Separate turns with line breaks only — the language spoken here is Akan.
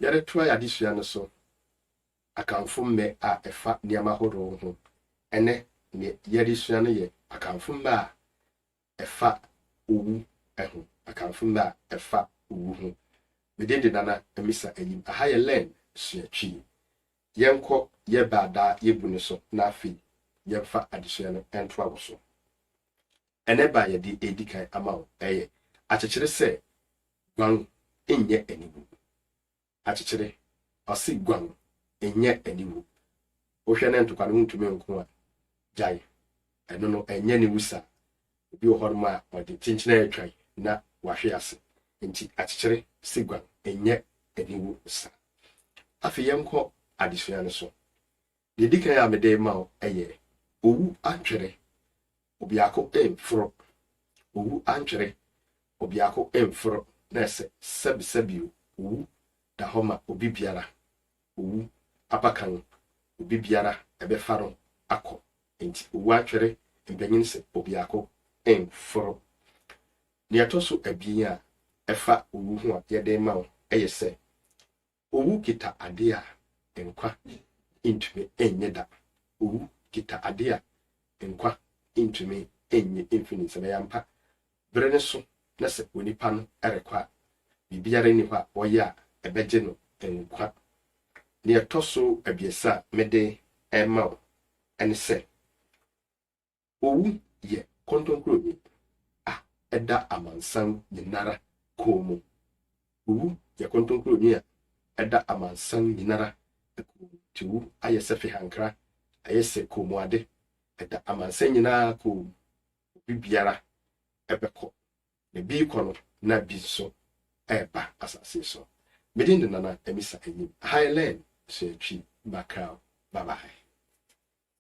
yɛde toa yɛn adesua no so Akanfo mmɛ a ɛfa nneɛma horow ho. Ɛnnɛ, nea yɛresua no yɛ Akanfo mmɛ a ɛfa owu ho. Akanfo mmɛ a ɛfa owu ho. Me din de Nana Amisa Ayim. Aha yɛ Learn, Sua Twi. Yɛnkɔ yɛn bɛ a daa yebu no so na afei yɛmfa adesua no ntoa wɔ so. Ɛnnɛ bɛ a yɛde redi kan ama wo yɛ akyekyere sɛ Guan Nyɛ Aniwu. Akyekyere, ɔse Guan Nyɛ Aniwu. Wohwɛ na ntokwa no wontumi nko a, gyae. Ɛno no, ɛnyɛ aniwu saa. Obi wɔ hɔnom a ɔde kyenkyenaa atwa na wahwe ase. Enti akyekyere se Guan Nyɛ Aniwu saa. Afei yɛnkɔ adesua no so. Deɛ ɛdi kan a mede rema wo yɛ, Owu antwere, obiako mforo, Owu antwere, obiako mforo, Nɛɛse, sɛbisɛbi o, Owu da hɔ ma obi biara, Owu abakan, obi biara ɛbɛfa no akɔ, Enti owu antwere, mpanyin se obiako mforo. Nea ɛtɔ so abien a ɛfa owu ho a yɛde rema wo yɛ sɛ, Owu kita ade a nkwa ntumi nnye da. Owu kita ade a nkwa ntumi nnye mfi ne nsam. Ɛyɛ ampa, bere no so na sɛ onipa no rekɔ a, biribiara nni hɔ a ɔyɛ a ɛbɛgye no nkwa. Nea ɛtɔ so abiɛsa a mede rema wo ne sɛ, Owu yɛ kontonkurowi a ɛda amansan nyinara koo mu. Owu yɛ kontonkurowi a ɛda amansan nyinara koo mu. Nti owu ayɛ sɛ fehankra, ayɛ sɛ koomuade. Ɛda amansan nyinaa koo mu. Obi biara bɛkɔ, na bi rekɔ no na bi nso reba asase so. Me din de Nana Amisa Anyim. Aha yɛ Learn, Suatwi Bakraw. Bye bye.